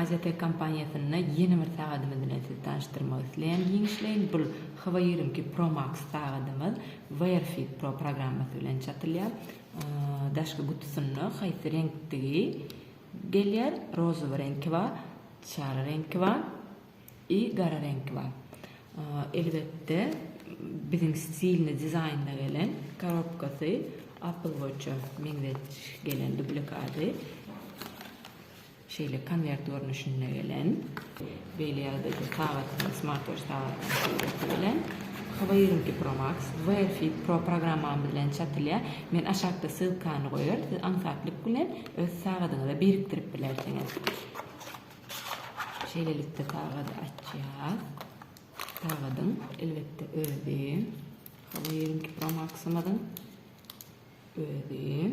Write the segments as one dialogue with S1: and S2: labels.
S1: Aziyatech kompaniýasynda ýene bir sagadymyz bilen sizi tanyşdyrmak isleýän giňişleýin. Bu Hava 22 Pro Max sagadymyz Wearfit Pro programmasy bilen çatylýar. Daşky gutusynda haýsy reňkdigi Gelýär, rozowy reňki bar, sary reňki bar i gara reňki bar. Elbetde biziň stilini dizaýnda gelen korobkasy Apple Watch-a meňzetiş gelen dublikady. Şeýle konwert görnüşinde gelen. Beýle ýagdaýda sagatdan, smartwatch sagatynyň surasy bilen, Howa ýigrimi iki Pro Max, Wear Fit Pro programmamyz bilen çatylýar. Men aşakda ssylkany goýaryn, siz aňsatlyk bilen öz sagadyňyza birikdirip bilersiňiz. Şeýlelikde sagady açýas. Sagadyň, elbetde, özi, Howa ýigrimi iki Pro Max-ymyzyň özi.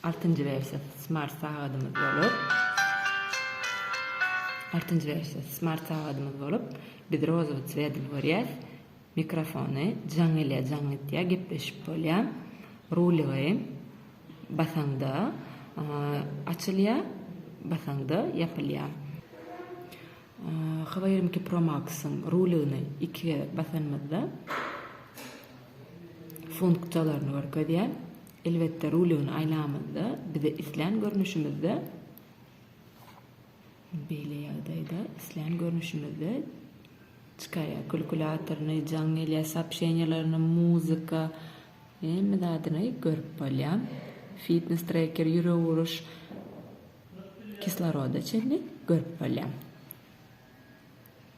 S1: Altynjy wersiýa smart sagadymyz bolup, altynjy wersiýa smart sagadymyz bolup, biz rozowy swedl görýäs, mikrofony jaň gelýär, jaň gitýär, gepleşip bolýar. Rulygy basaňda açylýar, basaňda ýapylýar. Hywa ýigrimi iki pro max-yň rulygyny iki gezek basanymyzda funksiýalaryny görkezýär. Elbetde ruligini aýlamyzda bize islän görnüşimizde beýle ýagdaýda islän görnüşimizde çykaýýar kulkulatoryny jaň gelýär soobşeniýalaryny muzika hemme zadyny görüp bolýar fitnes treker ýürek uruş kisloroda çenli görüp bolýar.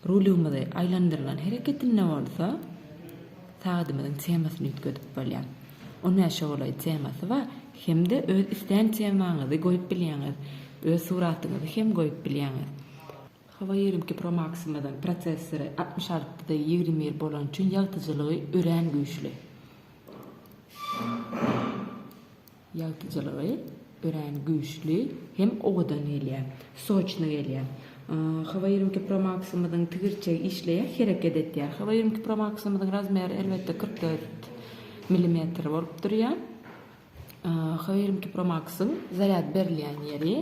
S1: Rulymyzy aýlandyrylan hereketinde bolsa sagadymyzyň temasyny üýtgedip bolýar. On bäşe golaý temasy bar. Hem-de öz islän temaňyzy goýup bilýäňiz. Öz suratyňyzy hem goýup bilýäňiz. Huawei ýigrimi iki Pro Max-ymyzyň prosessory altmyş alty da ýigrimi bir bolany üçin ýagtyjylygy örän güýçli. Ýagtyjylygy örän güýçli hem owadan gelýär. Soçny gelýär. Hawa ýigrimi iki pro maksymyzyň tigirçegi işleýär, hereket etýär. Hawa ýigrimi iki pro maksymyzyň razmeri elbetde kyrk dört milimetr bolup durýar. Hawa ýigrimi iki pro maksyň zarýad berilýän ýeri.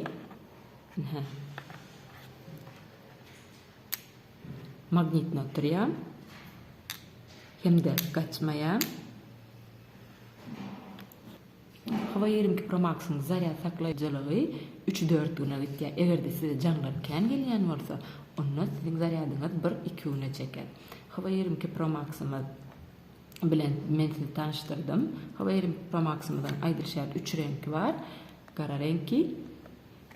S1: Magnitni oturýan hem-de gaçmaýan Howa ýigrimi iki Pro Max-yň zarýad saklaýjylygy üç-dört güne gitýär. Eger-de size jaňlar kän gelýän bolsa, onda siziň zarýadyňyz bir-iki güne çeker. Howa ýigrimi iki Pro Max-ymyz bilen men sizi tanyşdyrdym. Howa ýigrimi iki Pro Max-ymyzyň aýdylyşy ýaly üç reňki bar. Gara reňki,